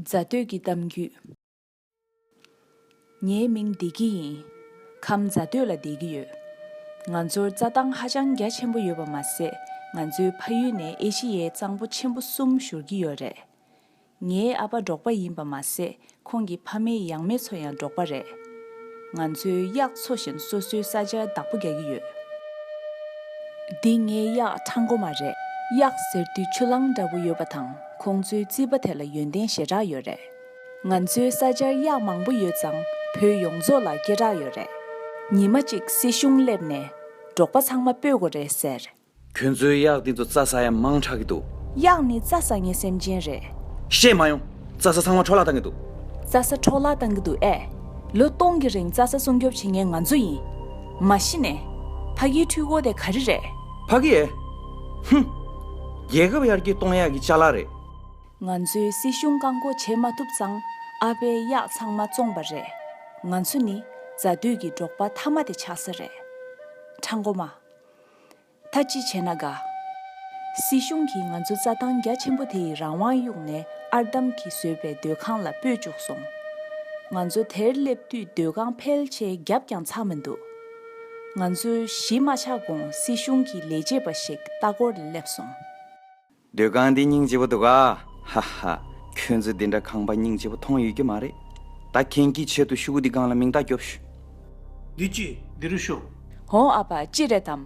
རྫ་སྟོད་ཀྱི་གཏམ་རྒྱུད། ངའི་མིང་བདེ་སྐྱིད་ཡིན། ཁམས་རྫ་སྟོད་ལ་སྡད་ཀྱི་ཡོད། ང་ཚོར་རྩྭ་ཐང་ཧ་ཅང་རྒྱ་ཆེན་པོ་ཡོད་པ་མ་ཟད་ང་ཚོའི་ཕ་ཡུལ་ནས་ཨེ་ཤི་ཡའི་གཙང་པོ་ཆེན་པོ་གསུམ་བཞུར་གྱི་ཡོད་རེད། ངའི་ཨ་ཕ་འབྲོག་པ་ཡིན་པ་མ་ཟད་ཁོང་གི་ཕ་མེས་ཡང་མེས་ཚོ་ཡང་འབྲོག་པ་རེད། ང་ཚོའི་གཡག་འཚོ་བཞིན་སོ་སོའི་ས་ཆར་བདག་པོ་རྒྱག་གི་ཡོད། འདི་ངའི་གཡག་ཁྲ་མགོ་མ་རེད། གཡག་ཟེར་དུས་ཆུ་གླང་འདྲ་བོ་ཡོད་པ་དང་ཁོང་ཚོའི་རྩིས་པ་དེ་ལ་ཡོན་ཏན་ཞེ་དྲགས་ཡོད་རེད། ང་ཚོའི་ས་ཆར་གཡག་མང་པོ་ཡོད་ཙང་བོད་ཡོངས་རྫོགས་ལ་སྐད་གྲགས་ཡོད་རེད། ཉི་མ་གཅིག་སྲིད་གཞུང་སླེབས་ནས་འབྲོག་པ་ཚང་མ་སྤོས་དགོ་རེད་ཟེར། ཁྱོད་ཚོའི་གཡག་སྟེང་དུ་རྩྭ་ཟ་ཡང་མང་དྲགས་ཀྱི་འདུག། གཡག་ནི་རྩྭ་ཟ་ངེས་སེམས་ཅན་རེད། བཤད་མ་ཡོང། རྩྭ་ས་ཚང་མ་འཕྲོག་བརླག་བཏང་གི་འདུག། རྩྭ་ས་འཕྲོག་བརླག་བཏང་གི་འདུག་ཨེ། ལོ་སྟོང་གི་རིང་རྩྭ་ས་སྲུང་སྐྱོབ་བྱེད་མཁན་ང་ཚོ་ཡིན། མ་གཞི་ནས། ཕ་གིའི་འཕྲུལ་འཁོར་དེ་ག་རེ་རེད། ཕ་གི་ཨེ། ཧུམ། རྒྱལ་ཁབ་ཡར་རྒྱས་གཏོང་གཡག་གི་བཅའ་ལག་རེད། ང་ཚོའི་སྲིད་གཞུང་བཀག་འགོག་བྱེད་མ་ཐུབ་ཙང་ཨ་ཕའི་གཡག་ཚང་མ་བཙོངས་པ་རེད། ང་ཚོ་ནི་རྫ་སྟོད་ཀྱི་འབྲོག་པ་མཐའ་མ་དེ་ཆགས་ས་རེད། ཁྲ་མགོ་མ། ད་ཅི་བྱས་ན་དགའ། སྲིད་གཞུང་གིས་ང་ཚོ་རྩྭ་ཐང་རྒྱ་ཆེན་པོ་དེ་ཡི་རང་དབང་གཡུགས་ནས་ཨར་འདམ་གྱིས་བཟོས་པའི་སྡོད་ཁང་ལ་སྤོས་བཅུག་སོང། ང་ཚོ་དེར་སླེབས་དུས་སྡོད་ཁང་ཕལ་ཆེ་རྒྱབ་ཀྱང་ཚར་མི་འདུག་ང་ཚོས་གཞིས་མ་ཆགས་གོང་སྲིད་གཞུང་གི་ལས་བྱེད་པ་ཞིག་ལྟ་སྐོར་ལ་སླེབས་སོང། སྡོད་ཁང་འདི་སྙིང་རྗེ་བོ་འདུག་ཨ། ཧ་ཧ། ཁྱོད་ཚོས་འདི་འདྲ་ཁང་པ་སྙིང་རྗེ་བོ་མཐོང་ཡོད་ཀྱི་མ་རེད། ད་ཁྱེད་ཀྱིས་ཆེད་དུ་ཤུག་འདི་སྒང་ལ་མིང་རྟགས་རྒྱོབ་ཞུ། འདི་ཅི། འདི་རུ་ཤོག། ཧོ་ཨ་ཕ་ཅི་རེད་དམ།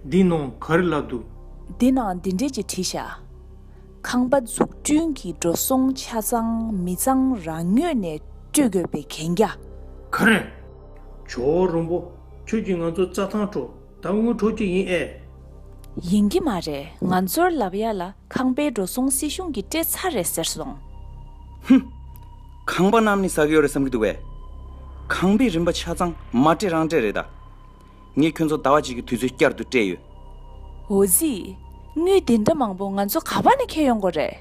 འདི་ནང་ག་རེ་ལབ་འདུག། འདི་ན་འདི་འདྲས་ཀྱི་བྲིས་ཤག། ཁང་པ་འཛུགས་སྐྲུན་གྱི་འགྲོ་སོང་ཆ་ཚང་མི་ཚང་རང་ཉོས་ནས་སྤྲོད་དགོས་པའི་གན་རྒྱ། ག་རེ། ཇོ་བོ་རོང་པོ། ཁྱོད་ཀྱིས་ང་ཚོ་རྩྭ་ཐང་ཁྲོ་ད་དངུལ་འཕྲོག་རྒྱུ་ཡིན་ཨེ། ཡིན་གྱི་མ་རེད་ང་ཚོར་ལབ་ཡ་ལ་ཁང་པའི་འགྲོ་སོང་སྲིད་གཞུང་གིས་སྤྲད་ཚར་རེད་ཟེར་སོང། ཧུམ། ཁང་པ་རྣམས་ནི་ཟ་གི་ཡོད་རེད་བསམ་གྱི་འདུག་བས། ཁང་པའི་རིན་པ་ཆ་ཚང་མ་སྤྲད་རང་སྤྲད་རེད་ད། ངས་ཁྱོད་ཚོ་ཟླ་བ་གཅིག་གི་དུས་ཚོད་བསྐྱར་དུ་སྤྲད་ཡོད། འོ་ཟི། དངུལ་འདི་འདྲ་མང་པོ་ང་ཚོ་ག་པ་ནས་ཁྱེར་ཡོང་གོ་རེད།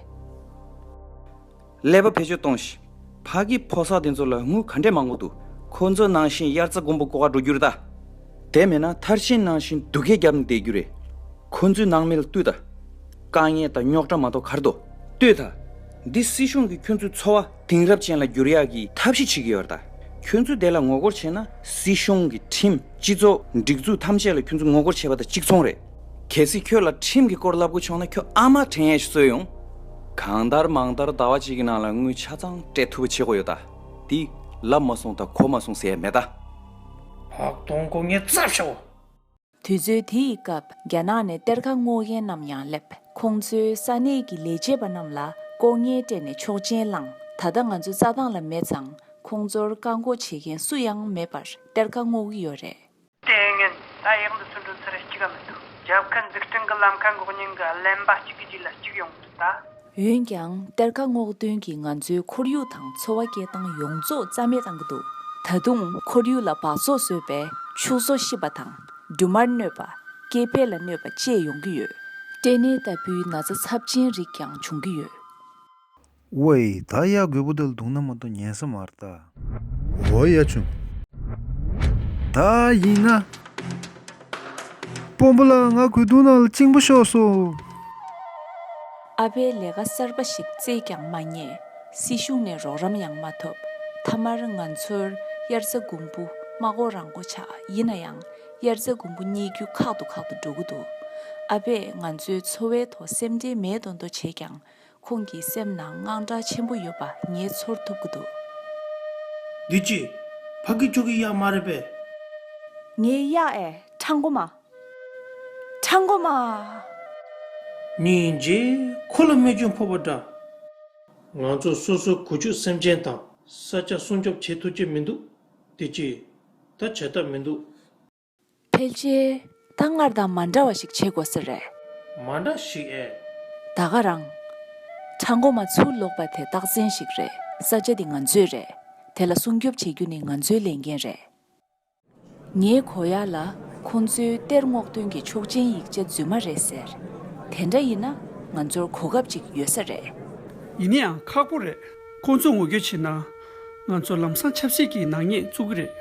ཀླད་པ་བེད་སྤྱོད་གཏོང་བཞིན་ཕ་གི་ཕོ་སར་དེ་ཚོ་ལ་དངུལ་ག་འདྲས་མང་པོ་འདུག་ཁོ་ཚོ་ནང་བཞིན་དབྱར་རྩ་དགུན་འབུ་ཀོ་ཁ་འགྲོ་རྒྱུ་རེད་ད། དེ་མེད་ན་མཐར་ཕྱིན་ནང་བཞིན་སྡུག་སྐད་རྒྱབ་ནས་བསྡད་རྒྱུ་རེད། ཁོ་ཚོའི་ནང་མི་ལ་ལྟོས་ད། དཀའ་ངལ་དང་རྙོག་དྲ་མ་གཏོགས་གར་དོ། ལྟོས་ད། འདི་སྲིད་གཞུང་གིས་ཁྱོད་ཚོའི་འཚོ་བ་དེང་རབས་ཅན་ལ་བསྒྱུར་ཡག་གི་ཐབས་ཤེས་བྱེད་ཀྱི་ཡོད་རེད་ད། ཁྱོད་ཚོས་དེ་ལ་ངོ་རྒོལ་བྱས་ན་སྲིད་གཞུང་གི་ཁྲིམས་སྤྱི་ཚོགས་སྒྲིག་འཛུགས་ཐམས་ཅད་ལ་ཁྱོད་ཚོ་ངོ་རྒོལ་བྱས་པ་དང་གཅིག་མཚུངས་རེད། གལ་སྲིད་ཁྱོད་ལ་ཁྲིམས་ཀྱི་སྐོར་བསླབ་དགོས་བྱུང་ན་ཁྱོད་ཨ་མ་དྲན་ཡས་གསོལ་ཡོང། གང་ལྟར་མང་ལྟར་ཟླ་བ་གཅིག་གི་ནང་ལ་དངུལ་ཆ་ཚང་སྤྲད་ཐུབ་པ་བྱེད་དགོས་ཡོད་ད། དེ་ལབ་མ་སོང་ད་གོ་མ་སོང་ཟེར་ཡས་མེད་ད། ཧོག་དོང་སྒོ་ངའི་རྩ་བཞག་འོ། དུས་ཚོད་དེ་ཡི་སྐབས་རྒྱ་ནག་ནས་གཏེར་ཁ་སྔོག་མཁན་རྣམས་ཡང་སླེབས། ཁོང་ཚོའི་ས་གནས་ཀྱི་ལས་བྱེད་པ་རྣམས་ལ་ལྐོག་རྔན་སྤྲད་ནས་ཆོག་མཆན་བླངས། ད་ལྟ་ང་ཚོ་རྩྭ་ཐང་ལ་མེད་ཙང་ཁོང་ཚོར་བཀག་འགོག་བྱེད་མཁན་སུ་ཡང་མེད་པར་གཏེར་ཁ་སྔོག་གི་ཡོད་རེད། ལྟས་ངན། ད་ཡག་འདུག་ཚུར་འགྲོ་ཚུར་རེ་གཅིག་ག་མི་འདུག་རྒྱབ་ཁ་འཛུགས་སྐྲུན་གི་ལམ་ཁ་འགོག་སྙིང་གི་གླེན་པ་གཅིག་གི་རྗེས་ལ་གཅིག་ཡོང་འདུག་ད། འོན་ཀྱང་གཏེར་ཁ་སྔོག་འདོན་གྱིས་ང་ཚོའི་ཁོར་ཡུག་དང་འཚོ་བ་སྐྱེལ་སྟངས་ཡོངས་རྫོགས་རྩ་མེད་བཏང་གི་འདུག་ད་དུང་ཁོར་ཡུག་ལ་བག་ཚོགས་བཟོས་པས་ཕྱུགས་ཟོག་ཤི་བ་དང་འབྲུ་མར་གནོད་པ། སྐྱེ་འཕེལ་ལ་གནོད་པ་བཅས་ཡོང་གི་ཡོད། སྐྲན་ནད་ལྟ་བུའི་ན་ཚ་ཚབས་ཆེན་རིགས་ཀྱང་འབྱུང་གི་ཡོད། ཝེ། ད་གཡག་རྒོད་པོ་དལ་འདུག་ན་མ་འདུག་ཉན་ས་མར་ལྟ། འོ་གཡག་ཆུང། ད་ཡིན་ན། སྤོམ་པོ་ལགས་ང་གོས་དུང་ནང་ལ་བཅིང་པོ་ཤོག་སོ། ཨ་ཕའི་ལས་ཀ་གསར་པ་ཞིག་བཙལ་ཀྱང་མ་རྙེད་སྲིད་གཞུང་ནས་རོགས་རམ་ཡང་མ་ཐོབ་མཐའ་མར་ང་ཚོར་དབྱར་རྩ་དགུན་འབུ་མ་སྒོ་རང་སྒོ་ཆགས་ཡིན་ན་ཡང་དབྱར་རྩ་དགུན་འབུ་རྙེད་རྒྱུ་ཁག་ཏུ་ཁག་ཏུ་འགྲོ་གི་འདུག་ཨ་ཕས་ང་ཚོའི་འཚོ་བའི་ཐོག་སེམས་ཁྲལ་མེད་དོ་མདོ་བྱས་ཀྱང་ཁོང་གི་སེམས་ནང་དངངས་སྐྲག་ཆེན་པོ་ཡོད་པ་ངས་ཚོར་ཐུབ་ཀྱི་འདུག། བདུད་རྩི། ཕ་གི་ཁྱོ་གི་གཡག་མ་རེད་པས། ངའི་གཡག་ཨེ་ཁྲ་མགོ་མ། ཁྲ་མགོ་མ། ཉིན་རྗེས་ཁོ་ལ་རྨས་སྐྱོན་ཕོག་པ་འདྲ། ང་ཚོ་སོ་སོའི་གུ་ཆུག་སེམས་ཅན་དང། ས་ཆ་སྲུང་སྐྱོབ་བྱེད་ཐུབ་ཀྱི་མི་འདུག་བདུད་རྩི། ད་བྱས་ཐབས་མི་འདུག། ཕལ་ཆེར་ད་སྔར་དང་མ་འདྲ་བ་ཞིག་བྱེད་དགོས་ཟེར་རེད། མ་འདྲ་ཞིག་ཨེ། ད་ག་རང། ཁྲ་མགོ་མ་ཚུར་ལོག་པ་དེ་རྟགས་མཚན་ཞིག་རེད་ས་ཆ་འདི་ང་ཚོའི་རེད་དེ་ལ་སྲུང་སྐྱོབ་བྱེད་རྒྱུ་ནི་ང་ཚོའི་ལས་འགན་རེད། ངས་གོ་ཡ་ལ་ཁོང་ཚོའི་གཏེར་སྔོག་འདོན་གྱི་ཆོག་མཆན་ཡིག་ཆ་རྫུན་མ་རེད་ཟེར། དེ་འདྲ་ཡིན་ན་ང་ཚོར་གོ་སྐབས་ཅིག་ཡོད་ས་རེད། ཡིན་ཡང་ཁག་པོ་རེད། ཁོང་ཚོ་ངོ་སྐྱོད་བྱེད་ན་ང་ཚོ་ལམ་སང་ཆབ་སྲིད་ཀྱི་ནག་ཉེས་བཙུགས་གི་རེད།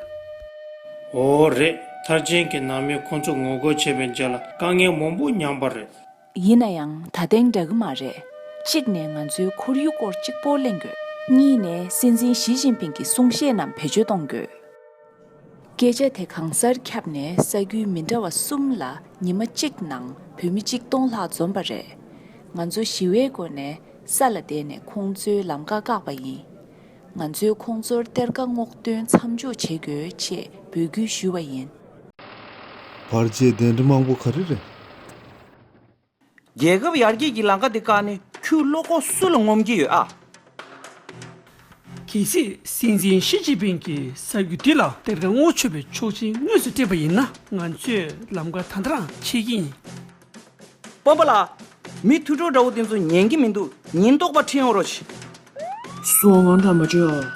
འོ་རེད་མཐར་ཅན་གྱི་ནང་མི་ཁོང་ཚོ་ངོ་རྒོལ་བྱས་པའི་རྗེས་ལ་དཀའ་ངལ་མང་པོ་མྱངས་པ་རེད། ཡིན་ན་ཡང་ད་ཐེངས་འདྲ་གི་མ་རེད། གཅིག་ནས་ང་ཚོའི་ཁོར་ཡུག་སྐོར་གཅིག་པོ་གླེང་དགོས། གཉིས་ནས་སྲིད་འཛིན་ཞི་ཅིན་ཕིང་གི་གསུང་བཤད་རྣམས་བེད་སྤྱོད་གཏོང་དགོས། སྐད་ཆ་དེ་གང་སར་ཁྱབ་ནས་ས་རྒྱུས་མི་འདྲ་བ་གསུམ་ལ་ཉི་མ་གཅིག་ནང་བོད་མི་གཅིག་སྟོང་ལྷག་འཛོམས་པ་རེད། ང་ཚོ་ཞི་བའི་སྒོ་ནས་ས་ལ་བསྡད་ནས་ཁོང་ཚོའི་ལམ་ཀ་བཀག་པ་ཡིན། ང་ཚོས་ཁོང་ཚོར་གཏེར་དགའ་སྔོག་འདོན་མཚམས་འཇོག་བྱེད་དགོས་ཅེས་འབོད་སྐུལ་ཞུས་པ་ཡིན། བར་བཅད་གདན་ཁྲི་མང་པོ་ག་རེ་རེད། རྒྱལ་ཁབ་ཡར་རྒྱས་ཀྱི་ལང་ཀ་འདི་བཀག་ནས་ཁྱོད་བློ་ཁོག་སུ་ལ་ངོམ་གྱི་ཡོད་ཨ། གལ་སྲིད་སྲིད་འཛིན་ཞི་ཅིན་ཕིན་གྱི་གསར་འགྱུར་འདི་ལ་དེབ་དང་བསྔོ་ཆོས་པའི་ཆོག་མཆན་དངོས་སུ་སྤྲད་པ་ཡིན་ན་ང་ཚོས་ལམ་ཀ་ད་དྲང་ཆེ་གི་ཡིན། སྤོམ་པ་ལགས། མི་ཐུགས་སྤྲོ་འདྲ་བོ་དེ་ཚོ་ཉན་གྱི་མི་འདུག་ཉེན་རྟོག་པ་ཁྲིད་ཡོང་རོགས། སུའང་འདྲ་མ་བྲོས་ཨ།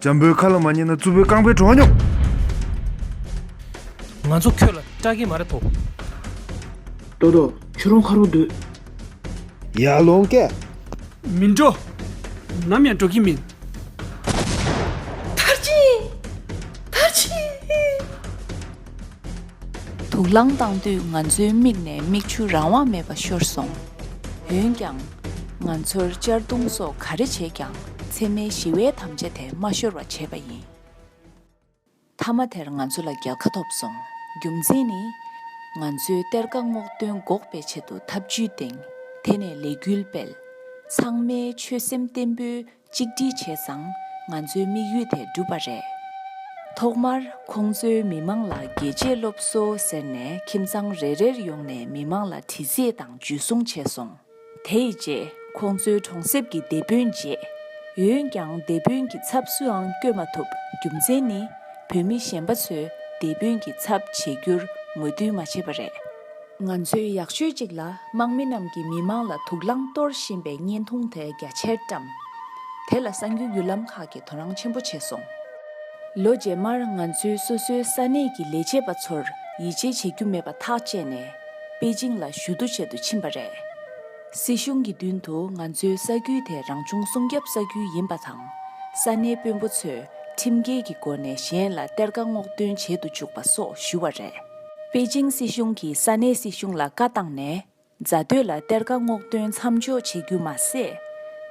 འཇམ་པོའི་ཁ་ལ་མ་ཉན་ན་རྩུབ་པོའི་རྐང་པའི་བྲོ་བ་སྙོམས། ང་ཚོ་ཁྱོད་ལ་སྐྲག་གིན་མ་རེད་དོ། རྡོ་རྡོ་ཁྱོད་རང་ཁ་རོག་སྡོད། ཡར་ལོངས་སྐད། མི་འགྲོ། ནམ་ཡང་འགྲོ་གིན་མིན། མཐར་ཕྱིན། མཐར་ཕྱིན། དུག་རླངས་བཏང་དུས་ང་ཚོའི་མིག་ནས་མིག་ཆུ་རང་དབང་མེད་པར་ཤོར་སོང། འོན་ཀྱང། ང་ཚོར་གཅར་རྡུང་སོགས་ག་རེ་བྱས་ཀྱང་འཚེ་མེད་ཞི་བའི་དམ་བཅའ་དེ་མ་ཤོར་བ་བྱས་པ་ཡིན། མཐའ་མ་དེར་ང་ཚོ་ལ་རྒྱལ་ཁ་ཐོབ་སོང། རྒྱུ་མཚན་ནི། ང་ཚོའི་གཏེར་ཁ་སྔོག་འདོན་འགོག་པའི་ཆེད་དུ་ཐབས་བྱུས་བཏིང། དེ་ནས་ལས་འགུལ་སྤེལ། ཚང་མའི་ཆོད་སེམས་བརྟན་པོའི་གཅིག་སྒྲིལ་བྱས་ཙང་ང་ཚོའི་དམིགས་ཡུལ་དེ་འགྲུབ་པ་རེད། ཐོག་མར་ཁོང་ཚོའི་མི་མང་ལ་རྒྱལ་གཅེས་སློབ་གསོ་ཟེར་ནས་ཁྱིམ་ཚང་རེ་རེར་ཡོང་ནས་མི་མང་ལ་དྲི་རྩེད་དང་འཇུ་བཟུང་བྱས་སོང། དེ་ཡི་རྗེས་ཁོང་ཚོའི་གྲོང་གསེབ་ཀྱི་སྡེ་དཔོན་བརྗེས། འོན་ཀྱང་སྡེ་དཔོན་གྱི་ཚབ་སུའང་བསྐྱོད་མ་ཐུབ་རྒྱུ་མཚན་ནི་བོད་མི་གཞན་པ་ཚོས་སྡེ་དཔོན་གྱི་ཚབ་བྱེད་རྒྱུར་ངོས་འཐུན་མ་བྱེད་པ་རེད། ང་ཚོའི་ཡག་ཤོས་གཅིག་ལ་དམག་མི་རྣམས་ཀྱིས་མི་དམངས་ལ་དུག་རླངས་གཏོར་བཞིན་པའི་བརྙན་ཐུང་དེ་རྒྱ་ཆེར་བཀྲམ། དེ་ལ་གསང་རྒྱུའི་བརྒྱུད་ལམ་ཁག་གིས་དོ་སྣང་ཆེན་པོ་བྱས་སོང། ལོ་རྗེས་མར་ང་ཚོའི་སོ་སོའི་ས་གནས་ཀྱི་ལས་བྱེད་པ་ཚོར་ཡིད་ཆེས་བྱེད་རྒྱུ་མེད་པ་ཐག་བཅད་ནས་པེ་ཅིང་ལ་ཞུ་གཏུག་བྱེད་དུ་ཕྱིན་པ་རེད། སྲིད་གཞུང་གི་མདུན་དུ་ང་ཚོའི་ས་ཁུལ་དེ་རང་བྱུང་སྲུང་སྐྱོབ་ས་ཁུལ་ཡིན་པ་དང་ས་གནས་དཔོན་པོ་ཚོས་ཁྲིམས་འགལ་གྱི་སྒོ་ནས་གཞན་ལ་གཏེར་ཁ་སྔོག་འདོན་བྱེད་དུ་བཅུག་པ་སོགས་ཞུ་བ་རེད། པེ་ཅིང་སྲིད་གཞུང་གིས་ས་གནས་སྲིད་གཞུང་ལ་བཀའ་བཏང་ནས་རྫ་སྟོད་ལ་གཏེར་ཁ་སྔོག་འདོན་མཚམས་འཇོག་བྱེད་རྒྱུ་མ་ཟད།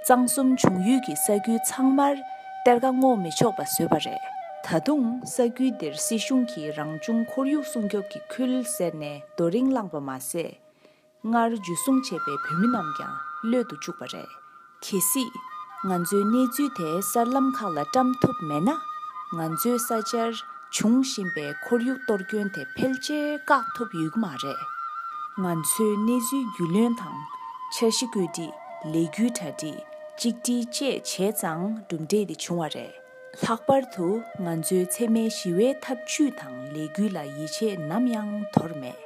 གཙང་གསུམ་འབྱུང་ཡུལ་གྱི་ས་ཁུལ་ཚང་མར་གཏེར་ཁ་སྔོག་མི་ཆོག་པ་བཟོས་པ་རེད། ད་དུང་ས་ཁུལ་འདིར་སྲིད་གཞུང་གིས་རང་བྱུང་ཁོར་ཡུག་སྲུང་སྐྱོབ་ཀྱི་ཁུལ་ཟེར་ནས་རྡོ་རིང་བསླངས་པ་མ་ཟད། སྔར་འཇུ་བཟུང་བྱས་པའི་བོད་མི་རྣམས་ཀྱང་གློད་དུ་བཅུག་པ་རེད། གལ་སྲིད། ང་ཚོའི་གནས་ཚུལ་དེ་གསར་ལམ་ཁག་ལ་བཀྲམ་ཐུབ་མེད་ན། ང་ཚོའི་ས་ཆར་འབྱུང་བཞིན་པའི་ཁོར་ཡུག་གཏོར་སྐྱོན་དེ་ཕལ་ཆེར་བཀག་ཐུབ་ཡོད་ཀྱི་མ་རེད། ང་ཚོའི་གནས་ཚུལ་རྒྱུས་ལོན་དང། འཆར་གཞི་བཀོད་སྒྲིག་ལས་རྒྱུ་གྲ་སྒྲིག་གཅིག་སྒྲིལ་བཅས་བྱས་ཙང་གྲུབ་འབྲས་དེ་བྱུང་བ་རེད། ལྷག་པར་དུ་ང་ཚོའི་འཚེ་མེད་ཞི་བའི་ཐབས་བྱུས་དང་ལས་འགུལ་ལ་ཡིད་ཆེས་ནམ་ཡང་དོར་མེད།